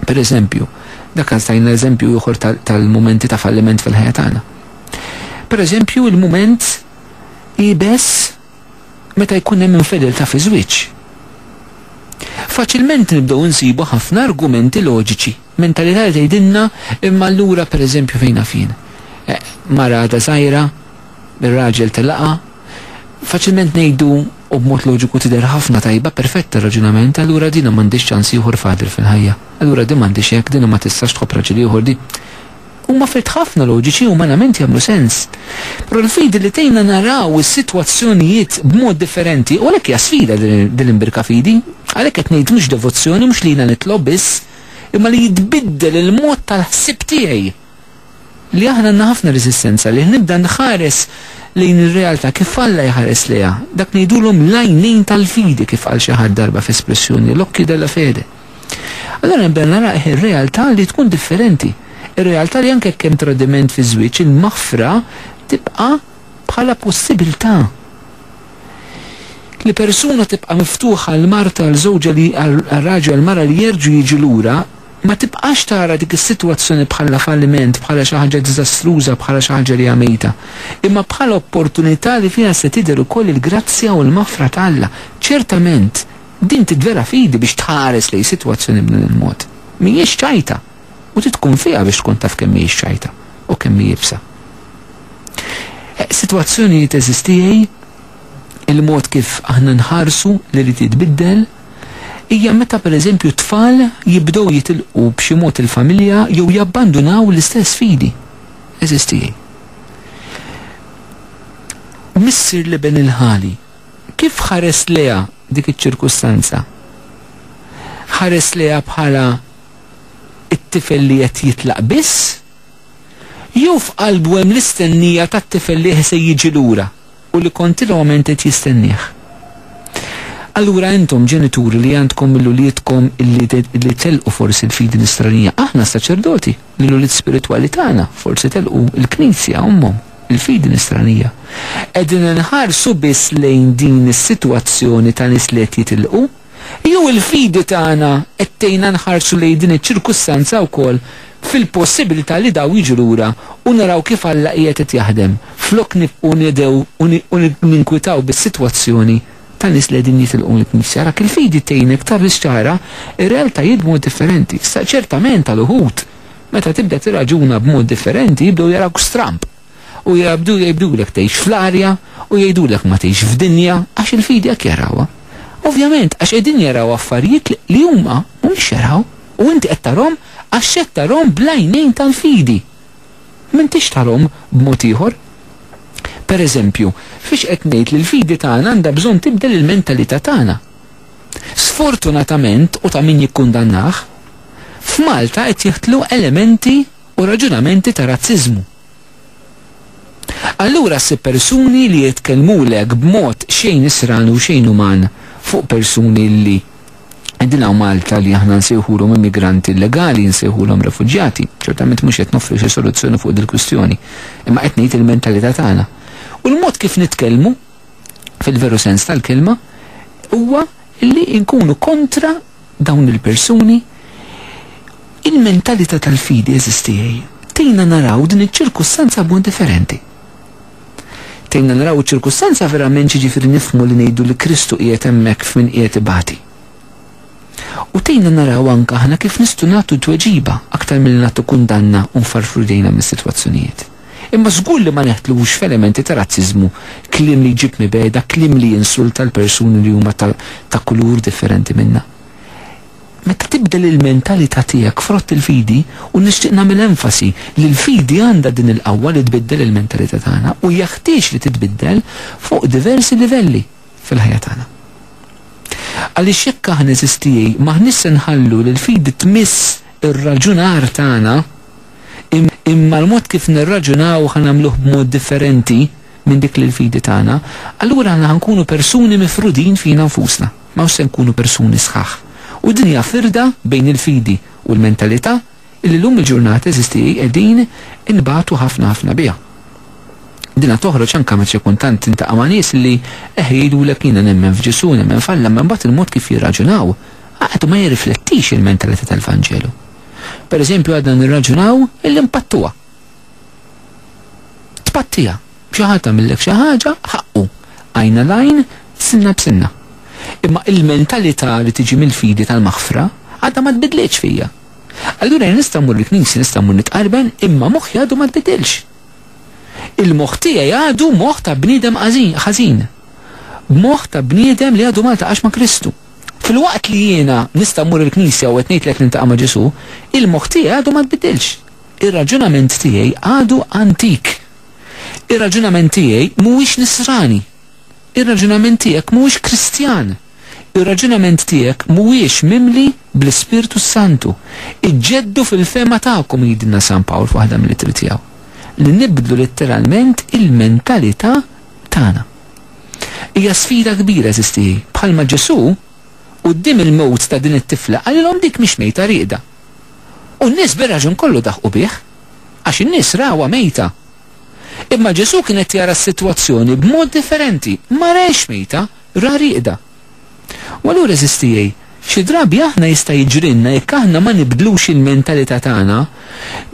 Per eżempju, dak kan stajna eżempju ieħor tal-momenti ta' falliment fil-ħajja tagħna. Per eżempju, il-moment ibes meta jkun hemm infedelta fi żwieġ. Faċilment nibdew insibu ħafna argumenti loġiċi, mentalità li tgħidilna imma allura pereżempju fejn fien. Eh, mara għadha żgħira, ir-raġel telaqha, Faċilment ngħidu, u b'mod loġiku tidher ħafna tajba, perfetta raġunament, allura dina m'għandhiex ċans ieħor fadil fil-ħajja. Allura din m'għandhiex hekk, dina ma tistax tħobb raġel ieħor, di. Huma affarijiet ħafna loġiċi, umanament jagħmlu sens. Però l-fidi li tgħinna naraw is-sitwazzjonijiet b'mod differenti, u għalhekk hija sfida din l-imbirka fidi, għalhekk qed ngħid mhux devozzjoni, mhux li jiena nitlob biss, imma li jitbiddel il-mod tal-ħsieb tiegħi. Li aħna għandna ħafna reżistenza li nibda nħares lejn ir-realtà kif Alla jħares lejha. Dak ngħidulhom l-għajnejn tal-fidi kif qal xi ħadd darba f'espressjoni, l-occhi della fede. Allura nibda nara ir-realtà li tkun differenti. Ir-realtà li anke jekk hemm tradiment fiż-żwieġ, il-maħfra tibqa' bħala possibilità li persuna tibqa' miftuħa għal martha għal żewġha li għal raġel għal mara li jerġgħu jiġu lura Ma tibqax tara dik is-sitwazzjoni bħala falliment, bħala xi ħaġa diżastruża, bħala xi ħaġa li hija mejta, imma bħala opportunità li fiha se tidher ukoll il-grazzja u l-maħfra ta' Alla. Ċertament, din tidvela fidi biex tħares lejn sitwazzjoni b'dan il-mod. Mhijiex ċajta, u trid tkun fiha biex tkun taf kemm mhijiex ċajta u kemm hi ibsa. Eh, sitwazzjonijiet eżistijaj il-mod kif aħna nħarsu li li titbiddel hija meta pereżempju t-tfal jibdew jitilqu b'xi mod il-familja jew jabbandunaw l-istess fidi. Għeżież tiegħi. Missier l-Iben il-Ħali, kif ħares lejha dik iċ-ċirkustanza? Ħares lejha bħala it-tifel li qed jitlaq biss? Jew f'qalbu hemm l-istennija tat-tifel li se jiġi lura? u li kontinwament qed jistennieh. Allura intom ġenituri li għandkom lill-uliedkom li li telqu forsi l-fidi nisranija, aħna saċerdoti li l-ulied spiritwali tagħna forsi telqu l-Knisja ommhom, il-fidi nisranija, qegħdin inħarsu biss lejn din is-sitwazzjoni ta' nies li qed jitilqu? Jew il-fidi tagħna qed tgħinna nħarsu lejn din iċ-ċirkustanza wkoll fil-possibilità li dawn jiġu lura u naraw kif Alla qiegħed qed jaħdem, flok nibqgħu nidhew u ninkwitaw bis-sitwazzjoni ta' nies li qegħdin jitilqu mill-Knisja? Arak il-fidi tgħinek tarris ċara r-realtajiet b'mod differenti. Issa, ċertament għal uħud, meta tibda tirraġuna b'mod differenti, jibdew jarawk stramb. u jgħabdu jgħidulek tgħix fl-arja u jgħidulek ma tgħix f'dinja għax il-fidi hekk jarawha. Ovvjament għax qegħdin jaraw affarijiet li huma mhumiex jaraw u inti qed tarhom għax qed tarhom bl-għajnejn tal-fidi. M'intix tarhom b'mod ieħor. Per eżempju, fiex qed ngħid li l-fidi tagħna għandha bżonn tibdel il-mentalità tagħna. Sfortunatament u ta' min jikkundannah, f'Malta qed jiħtlu elementi u raġunamenti ta' razziżmu. Allura ssib persuni li jitkellmulek b'mod xejn isran u xejn uman fuq persuni li qegħdin hawn Malta li aħna nsejħulhom immigranti illegali, nsejħulhom refuġjati. Ċertament mhux qed noffri xi soluzzjoni fuq dil-kwistjoni, imma qed ngħid il-mentalità tagħna. U l-mod kif nitkellmu, fil-veru sens tal-kelma, huwa li nkunu kontra dawn il-persuni, il-mentalità tal-fidi għeżież tiegħi tgħinna naraw din iċ-ċirkustanza b'mod differenti. Tgħinna naraw iċ-ċirkustanza verament x'jiġifieri nifhmu li ngħidu li Kristu qiegħed hemmhekk f'min qiegħed ibati. U tgħinna naraw anke aħna kif nistgħu nagħtu tweġiba aktar milli nagħtu kundanna u nfarfru jdejna mis-sitwazzjonijiet. Imma żgur li ma neħtlux f'elementi ta' razziżmu, kliem li jġib mibegħda, kliem li jinsulta l-persuni li huma ta' ta' kulur differenti minna. Meta tibdel il-mentalità tiegħek frott il-fidi, u nixtieq nagħmel enfasi li l-fidi għandha din il-qawwa li tbiddel il-mentalità tagħna u jeħtieġ li titbiddel fuq diversi livelli fil-ħajja tagħna. Għaliex jekk aħna, għeżiż tiegħi, m'aħniex se nħallu li l-fidi tmiss ir-raġunar tagħna, imma l-mod kif nirraġunaw ħa nagħmluh b'mod differenti minn dik li l-fidi tagħna, allura aħna ħa nkunu persuni mifrudin fina nfusna. M'hawnx se nkunu persuni sħaħ. U din hija firda bejn il-fidi u l-mentalità li llum il-ġurnata, eżisti, qegħdin inbatu ħafna ħafna biha. Dinha toħroġ anke meta xi kultant tintaqa' ma' nies li eħ jgħidulek jiena nemmen f'Ġesù, nemmen f'Alla, imma mbagħad il-mod kif jirraġunaw għadu ma jirriflettix il-mentalità tal-Vanġelu. Pereżempju għadna nirraġunaw illi mpattuha. Tpattija, xi ħadd għamillek xi ħaġa ħaqqu, għajna l-għajn, sinna b'sinna. Imma il-mentalità li tiġi mill-fidi tal-maħfra għadha ma tbidlitx fija. Allura nista' mmur il-knisja nista' mmur nitqarben imma moħħi għadu ma tbidilx. Il-moħħ tiegħi għadu moħħ ta' bniedem ħażin. Moħħ ta' bniedem li għadu ma ltaqax ma' Kristu. Filwaqt li jiena nista' mmur il-knisja u qed ngħidlek nintaqa' ma' Ġesù, il-moħħ tiegħi għadu ma tbiddilx. Ir-raġunament tiegħi għadu antik. Ir-raġunament tiegħi mhuwiex Nisrani. Ir-raġunament tiegħek mhuwiex Kristjan. Ir-raġunament tiegħek mhuwiex mimli bl-Ispirtu s-Santu. Iġġeddu fil-fehma tagħkom, jgħidilna San Pawl f'waħda mill-ittri tiegħu. Li nibdlu litteralment il-mentalità tagħna. Hija sfida kbira għeżież tiegħi. Bħalma Ġesù, quddiem il-mewt ta' din it-tifla, qalilhom dik mhix mejta rieqda. U n-nies bir-raġun kollu daħqu bih, għax in-nies rawha mejta. Imma Ġesù kien qed jara s-sitwazzjoni b'mod differenti, ma rahiex mejta, raha rieqda. U allura għeżież tiegħi, xi drabi aħna jista' jiġrilna jekk aħna ma nibdlux il-mentalità tagħna,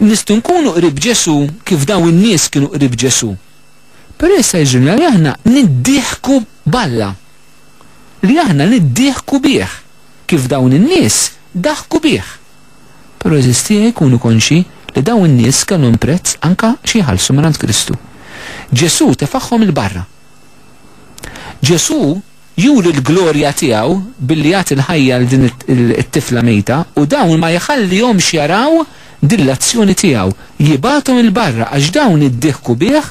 nistgħu nkunu qrib Ġesù kif dawn in-nies kienu qrib Ġesù. Però jista' jiġrilna li aħna niddieħku b'Alla, li aħna niddieħku bih, kif dawn in-nies daħku bih. Però eżistieħ ikunu konxji li dawn in-nies kellhom prezz anke xi jħallsu mingħand Kristu. Ġesù tefagħhom 'il barra. Ġesù Juri l-glorja tiegħu billi jagħti l-ħajja lil din it-tifla mejta u dawn ma jħallihomx jaraw din l-azzjoni tiegħu. Jibgħathom 'il barra għax dawn iddieħku bih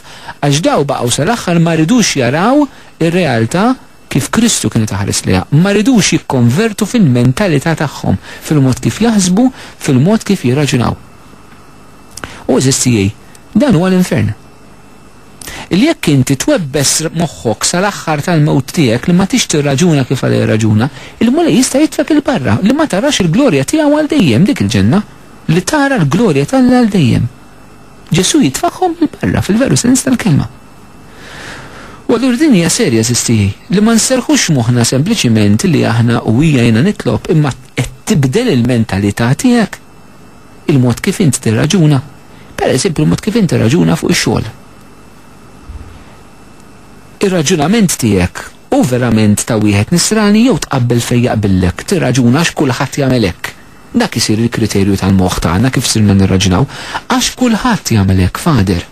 għax daw baqgħu sal-aħħar ma ridux jaraw ir-realtà kif Kristu kienet iħares lejha. Ma ridux jikkonvertu fil-mentalità tagħhom, fil-mod kif jaħsbu, fil-mod kif jirraġunaw. U għeżież tiegħi, dan huwa l-infern. li jekk inti twebbes moħħok sal-aħħar tal-mewt tiegħek li ma tix tirraġuna kif għalha jirraġuna, il-Mulej jista' jitfgħek 'il barra, li ma tarax il-glorja tiegħu għal dejjem, dik il-Ġenna, li tara l-glorja t'Alla għal dejjem. Ġesù jitfakhom 'il barra fil-veru sens tal-kelma. U allura din hija serja sistijaj, li ma nserħux moħna sempliċiment li aħna u hija jiena nitlob imma qed tibdel il-mentalità tiegħek. Il-mod kif int tirraġuna, per eżempju l-mod kif int tirraġuna fuq ix-xogħol. Ir-raġunament tiegħek hu verament ta' wieħed nisrani jew tqabbel fejn jaqbillek, tirraġuna għax kulħadd jagħmel hekk. Dak isir il-kriterju tal-moħħ tagħna kif sirna nirraġunaw. Għax kulħadd jagħmel hekk, Father.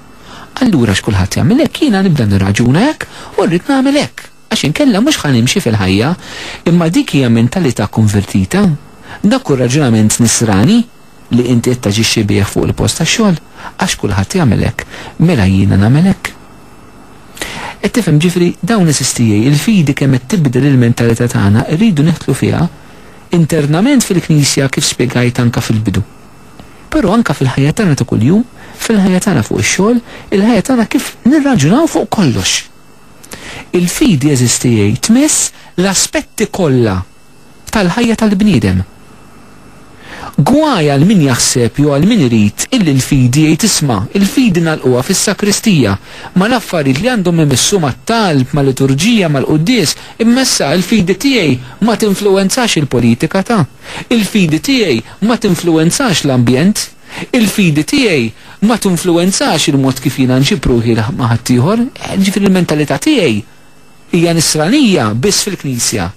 Allura għax kulħadd jagħmel hekk jiena nibda nirraġuna hekk u rrid nagħmel hekk. Għax inkella mhux ħa nimxi fil-ħajja. Imma dik hija mentalità konvertita. Dak hu r-raġunament nisrani li inti qed taġixxi bih fuq il-post tax-xogħol, għax kulħadd jagħmel hekk, mela jiena nagħmel hekk. Qed tifhem, ġifieri, dawn għeżież tiegħi, il-fidi kemm qed tibdel il-mentalità tagħna rridu nidħlu fiha internament fil-Knisja kif spjegajt anke fil-bidu. Però anke fil-ħajja tagħna ta' kuljum, fil-ħajja tagħna fuq ix-xogħol, il-ħajja tagħna kif nirraġunaw fuq kollox. Il-fidi eżistijie tmiss l-aspetti kollha tal-ħajja tal-bniedem. Gwaj għal min jaħseb jew għal min irid illi l-fidi jgħid isma', il-fidi ngħalquha fis-sakristija, mal-affarijiet li għandhom imissu mat-talb, mal-liturġija, mal-quddies, imma issa il-fidi tiegħi ma tinfluwenzax il-politika ta', il-fidi tiegħi ma tinfluwenzax l-ambjent. Il-fidi tiegħi ma tinfluwenzax il-mod kif jiena nġib ruħi ma' ħaddieħor, jiġifieri l-mentalità tiegħi hija nisranija biss fil-Knisja.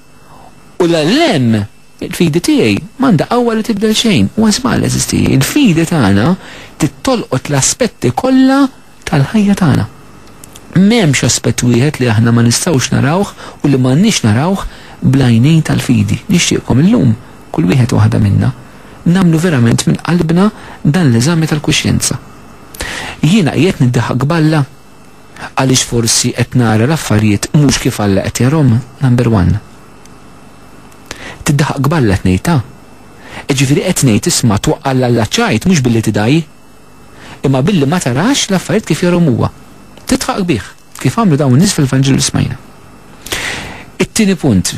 U 'l hemm, il-fidi tiegħi m'għandha qawwa li tibdel xejn. Huwa żball, għeżież tiegħi. Il-fidi tagħna trid tolqot l-aspetti kollha tal-ħajja tagħna. M'hemmx aspett wieħed li aħna ma nistgħux narawh u li m'għandniex narawh bl-għajnejn tal-fidi. Nixtieqkom illum, kull wieħed u waħda minna, nagħmlu verament minn qalbna dan l-eżami tal-kuxjenza. Jiena qiegħed niddaħħaq b'Alla? Għaliex forsi qed nara l-affarijiet mhux kif Alla qed jarhom, number one. Tiddaħħaq b'Alla tnejta. Ġifieri qed ngħid isma' twaqqal l-alla ċajt mhux billi tidaj. imma billi ma tarax l-affarijiet kif jarahom huwa. Tidħaq qbih, kif għamlu dawn in-nies fil-Vanġelu li smajna. It-tieni punt,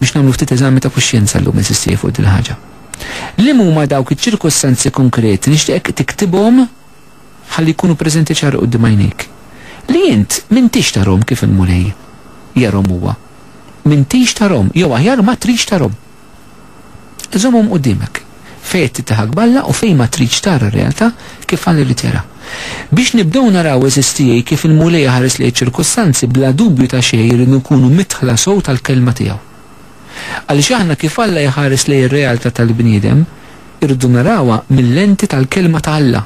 biex nagħmlu ftit eżami ta' kuxjenza llum, insisti jien fuq din il-ħaġa. Liema huma dawk iċ-ċirkustanzi konkreti nixtieqek tiktibhom ħalli jkunu preżenti ċar quddiem għajnejk? Li int m'intix tarahom kif il-Mulej jarahom huwa. M'intix tarahom, jew aħjar ma tridx tarahom. Żommhom quddiemek, fejn qed titteħak b'Alla u fejn ma tridx tara r-realtà kif Alla jrid jaraha. Biex nibdew naraw, għeżież tiegħi, kif il-Mulej iħares lejn iċ-ċirkustanzi, bla dubju ta' xejn irridu nkunu midħla sew tal-Kelma tiegħu. Għaliex aħna kif Alla jħares lejn ir-realtà tal-bniedem, irridu narawha mil-lenti tal-Kelma ta' Alla,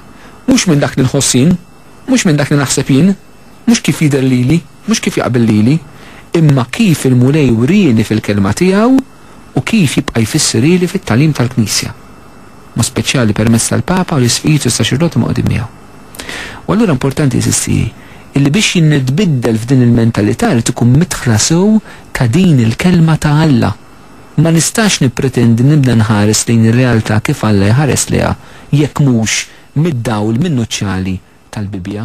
mhux minn dak li nħoss jien, mhux minn dak li naħseb jien. mhux kif jidher lili, mhux kif jaqbel lili, imma kif il-Mulej wrieni fil-Kelma tiegħu u kif jibqa' jfissirili fit-tagħlim tal-Knisja, b'mod speċjali permezz tal-Papa u l-Isqfijiet u s-Saċerdoti mqgħudin miegħu. U allura importanti, għeżież tiegħi, illi biex jinnitbiddel f'din il-mentalità jrid ikun midħla sew ta' din il-Kelma ta' Alla. Ma nistax nippretendi nibda nħares lejn ir-realtà kif Alla jħares lejha jekk mhux mid-dawl minnuċjali tal-Bibbja,